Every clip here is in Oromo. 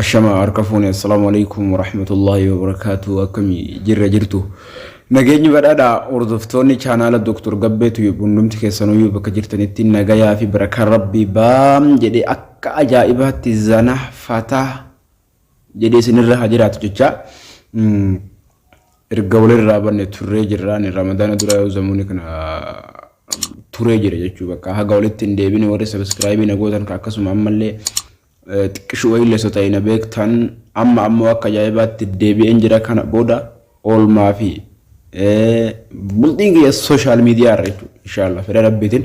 Ashama harka fuune assalaamu alaikum warahmatullaahi wabarakaatu akkami jirra jirtu nageenyi badhaadha hordoftoonni chaanaala Dr. Gabbee Tuyub hundumti keessanuyyuu bakka jirtanitti nagayaa fi barakaa rabbii baam jedhee akka ajaa'ibaatti zana fataa jedhee isin irra haa jiraatu jechaa erga walirraa banne turree jirraan ramadaana dura yoo zamuuni kana turee jira jechuu bakka haga walitti hin deebine warri sabiskiraayibii na gootan ka akkasuma ammallee xiqqishu wayii leessa ta'e na beektan amma ammoo akka ajaa'ibaatti deebi'een jira kana booda oolmaa fi bultiin kiyya sooshaal miidiyaa irra jechuudha. Inshaallah fedha rabbiitiin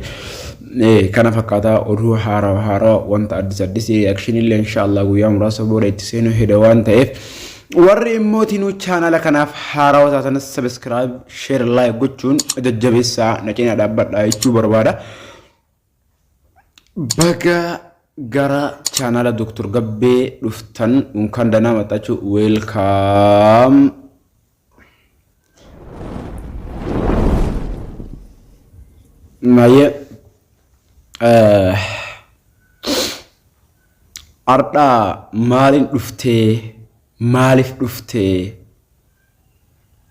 kana fakkaataa oduu haarawa haarawa wanta addis addis reakshinii illee inshaallah guyyaa muraasa booda itti seenuu heda waan ta'eef warri immoo tinuu chaanala kanaaf haarawa taatanis sabiskiraayib sheer laayik gochuun jajjabeessaa na cinaa dhaabbadhaa jechuu barbaada. Baga gara chaanaala Dr. Gabbee dhuftan unkaan danaa maxxachuu weelkaam. Maayee ardhaa maaliin dhuftee maaliif dhuftee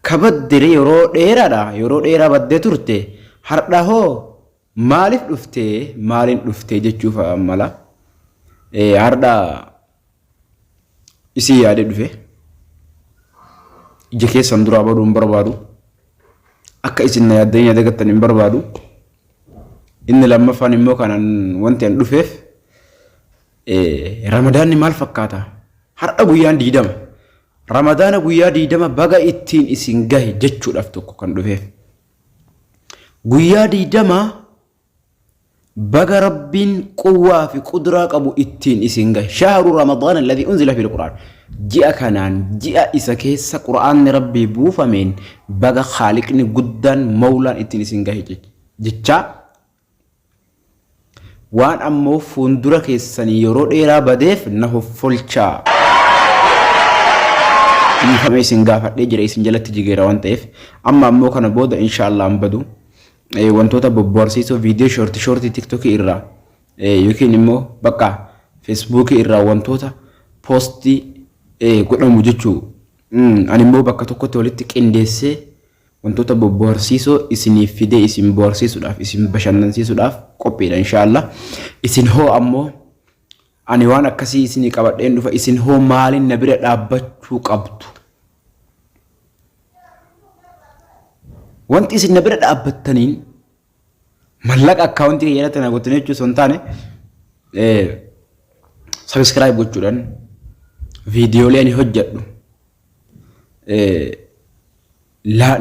kabaddire yeroo dheeraadha yeroo dheeraa baddee turte hardha hoo Maalif dhuftee, maalin dhuftee jechuu fa'a mala. Eh, Hardha isii yaadee dhufe. Ija keessan duraa baduu hin barbaadu. Akka isin na yaaddanii na dagattan hin barbaadu. Inni lammaffaan immoo kanan wanti an dhufeef eh, ramadaanni maal fakkaata? Har'a guyyaan diidama. Ramadaana guyyaa diidama baga ittiin isin gahe jechuudhaaf tokko kan dhufeef. Guyyaa digdama baga rabbiin quwwaa fi qudraa qabu ittiin isin gahe shahru ramadaan alladhi unzila fil qur'aan ji'a kanaan ji'a isa keessa qur'aanni rabbii buufameen baga khaaliqni guddaan mawlaan ittiin isin gahe jechaa Waan ammoo fuundura keessanii yeroo dheeraa badeef na hoffolchaa. Dhiifama isin gaafadhee jira isin jalatti jigeera waan ta'eef amma ammoo kana booda inshaallah hin badu. Eh, Wantoota bobboharsiisoo viidiyoo shoorti shoorti tiktokii irraa eh, yookiin immoo bakka feesbuukii irraa wantoota poostii eh, godhamu jechuu. Mm, Ani immoo bakka tokkotti walitti qindeessee Wantoota bobboharsiisoo isiniif fidee isin boharsiisuudhaaf isin bashannansiisuudhaaf qophiidha inshaallah. Isin hoo ammoo ani waan akkasii isinii qabadheen dhufa isin hoo maaliin na bira dhaabbachuu qabdu? Wanti isin na bira dhaabbattaniin Mallaqa akkaawuntii kiyya irratti na gottanii jechuun osoo hin taane sabiskiraayib gochuudhaan viidiyoolee ani hojjedhu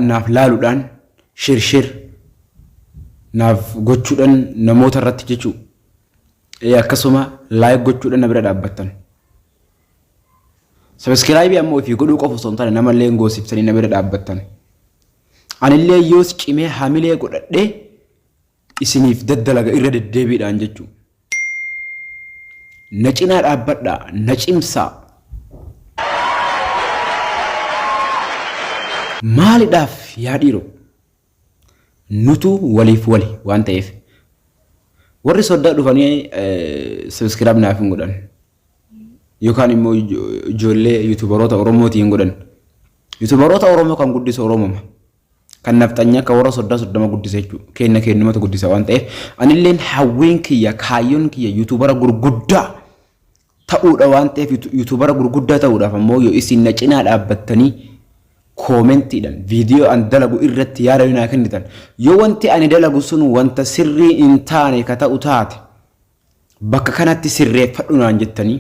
naaf laaluudhaan shirshir naaf gochuudhaan namoota irratti jechuu akkasuma laayik gochuudhaan na bira dhaabbattan. Sabiskiraayibii ammoo ofii godhuu qofa osoo hin taane namallee goosibsanii na bira dhaabbattan. Anillee yoos cimee hamilee godhadhee isiniif daddalaga irra deddeebiidhaan jechuudha. Na cinaa dhaabbadhaa, na cimsaa. Maalidhaaf yaa dhiiroo? Nutu waliif wali waan ta'eef. Warri soddaa dhufanii sabiskiraab naaf hin godhan. yookaan immoo ijoollee yuutubaroota Oromootii hin godhan. Yuutubaroota Oromoo kan guddisu Oromuma. Kan nafxanyaa akka warra soddaa soddoma guddisa jechuudha. Keenna keennumatu guddisa waan ta'eef anilleen hawwiin kiyya kaayyoon kiyya yuutubara gurguddaa ta'uudha waan ta'eef yuutubara gurguddaa ta'uudhaaf ammoo yoo isin na cinaa dhaabbattanii koomentiidhaan viidiyoo an dalagu irratti yaada naa kennitan yoo wanti ani dalagu sun wanta sirrii hin taane ka ta'u taate Bakka kanatti sirreeffadhu naan jettanii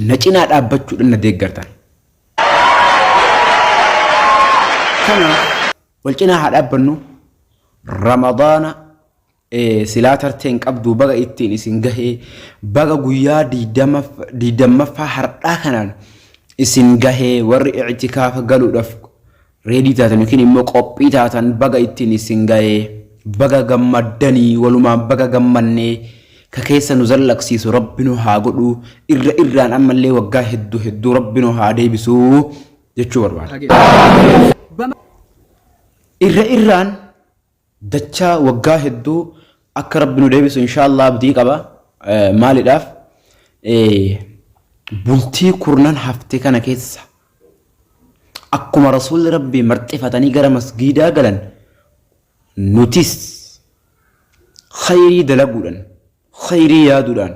na cinaa dhaabbachuudhaan na deeggartan. Kanaaf wal cinaa haa dhaabbannu Ramadaana eh, silaa tarteen qabdu baga ittiin isin gahee baga guyyaa digdamaf- digdammaffaa har'aa kanaan isin gahee warri ictikaafa galuudhaaf Ready taatan yookiin immoo qophii taatan baga ittiin isin ga'ee baga gammaddanii walumaan baga gammannee ka keessa nu zallaqsiisu rabbi nu haa godhu irra irraan ammallee waggaa hedduu hedduu rabbi nu haa deebisu jechuu barbaada. Irra irraan Dachaa waggaa hedduu akka rabbi nu deebisu inshaallaa abdii qaba maalidhaaf bultii kurnan hafte kana keessa akkuma rasuulli rabbii marxifatanii gara masgiidaa galan nutis khayrii dalaguudhan khayrii yaaduudhaan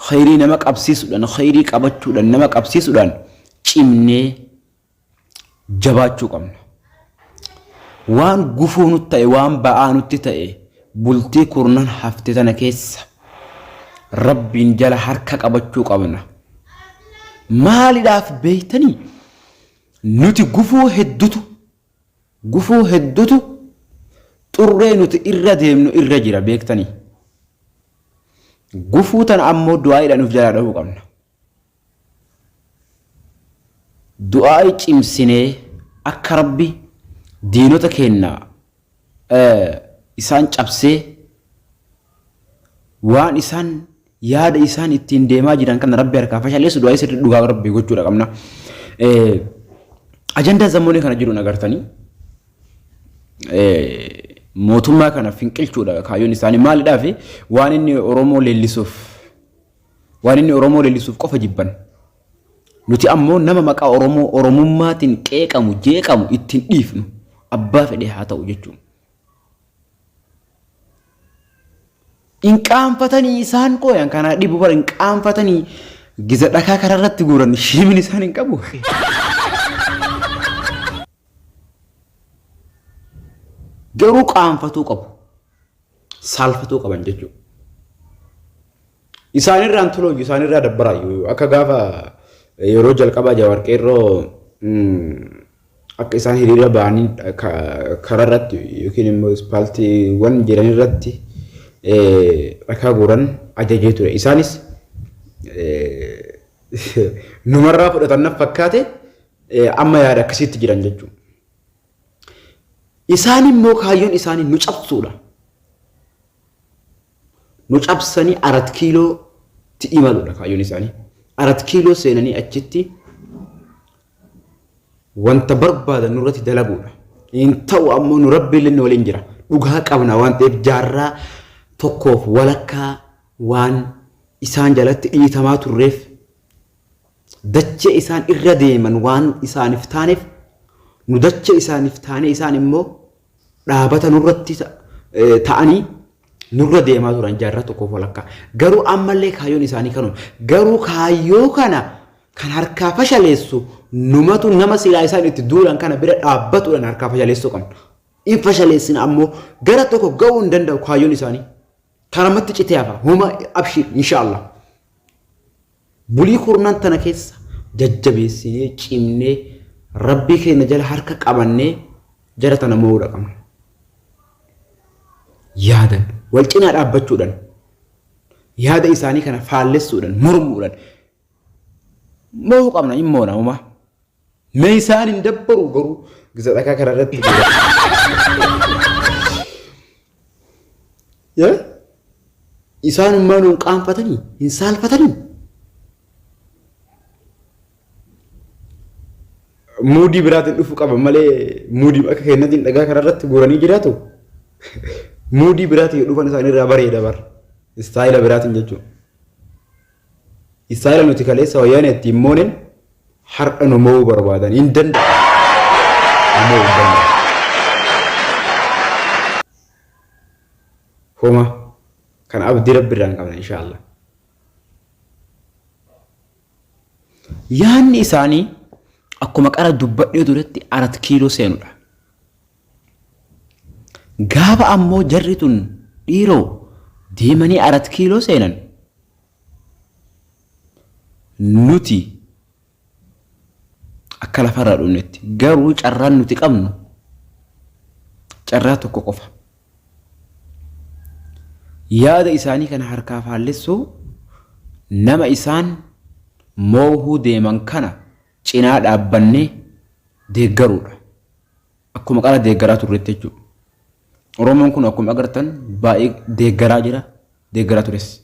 khayrii nama qabsiisuudhaan khayrii qabachuudhaan nama qabsiisuudhaan cimnee jabaachuu qabna. Waan gufuu nutti ta'e, waan ba'aa nutti ta'e bultii kurnan hafte tana keessa rabbiin jala harka qabachuu qabna. Maalidhaaf beektanii? Nuti gufuu heddutu gufuu heddutu xurree nuti irra deemnu irra jira beektanii. Gufuu tana ammoo du'aa'iidhaan nuuf jalaa dhahuu qabna. Du'aa'i cimsinee akka Rabbi diinota keenna isaan cabsee waan isaan yaada isaan ittiin deemaa jiran kana Rabbi harkaa fashaleessu du'aa'i sirrii dhugaa Rabbi gochuudha qabna. Ajandaa zammoonii kana jiruun agartanii mootummaa kana finqilchuudha kaayyoon isaanii maalidhaa fi waan inni Oromoo leellisuuf Waan inni Oromoo leellisuuf qofa jibban. Nuti ammoo nama maqaa Oromoo Oromummaatiin qeeqamu, jeeqamu itti hin dhiifnu. Abbaa fedhe haa ta'u jechuun. Hin qaanfatanii isaan koo yan kanaa dhibu bara hin qaanfatanii giza dhakaa karaa irratti guuran shiimin isaan hin qabu. Garuu qaanfatuu qabu. saalfatuu qaban jechuudha. Isaanirraan tolooyyu isaanirraa dabbaraayyu akka gaafa yeroo jalqabaa Jawaar Qeerroo akka isaan hiriira ba'anii kararratti yookiin immoo ispaaltiiwwan jiran irratti dhakaa guuran ajajee ture. Isaanis numarraa fudhatan fakkaate amma yaada akkasiitti jiran jechuudha. Isaan immoo kaayyoon isaanii nu cabsuudha. Nu cabsanii arat kiilootti imaluudha kaayyoon isaanii. Arat kiiloo seenanii achitti wanta barbaadan nurratti dalaguudha. Hin ta'u ammoo nu rabbiillee nu waliin jira. Dhugaa qabna waan ta'eef jaarraa tokkoof walakkaa waan isaan jalatti dhiitamaa turreef dachee isaan irra deeman waan isaaniif taaneef nu dachee isaaniif taanee isaan immoo dhaabata nurratti ta'anii nurra deemaa turan jaarraa tokkoof walakkaa. Garuu ammallee kaayyoon isaanii kanuma. Garuu kaayyoo kana kan harkaa fashaleessu numatu nama silaa isaan itti duulan kana bira dhaabbatuudhaan harkaa fashaleessuu qabna. In fashaleessina ammoo gara tokko ga'uu hin danda'u kaayyoon isaanii. Tanamatti citee hafa homa abshiir inshaallah. Bulii kurnan tana keessa jajjabeessinee cimnee rabbii keenya jala harka qabannee jara tana mo'uudha qabna. Yaadan wal cinaa dhaabbachuudhaan yaada isaanii kana faallessuudhaan mormuudhaan mo'uu qabna hin moona homaa. Mee isaan hin dabbaru garuu gisa dhakaa kana irratti. Yaa? Isaan ummaan hin qaanfatanii hin saalfatanii. Muudii biraatiin dhufu qaba malee muudii akka keenyatiin dhagaa kana irratti guuranii jiraatu. Muudii biraatiin dhufan isaanii irraa bareeda bar. Istaayila biraatiin jechuudha. Isaani nuti kaleessa wayyaanee ittiin moonen har'a nu mo'uu barbaadan. Hin danda'amu. Nu mo'uu hin danda'amu. Homa kan abdii rabbi irraa hin qabna inshaallah. Yaanni isaanii akkuma qara dubbadhee turetti arat kiiloo seenudha. Gaafa ammoo jarri tun dhiiroo deemanii arat kiiloo seenan nuti akka lafarraa dhumnetti garuu carraan nuti qabnu carraa tokko qofa. Yaada isaanii kana harkaa faallessuu nama isaan moohuu deeman kana cinaa dhaabbannee deeggaruudha. Akkuma qara deeggaraa turretti jechuudha. Oromoon kun akkuma agartan baay'ee deeggaraa jira, deeggaraa tures.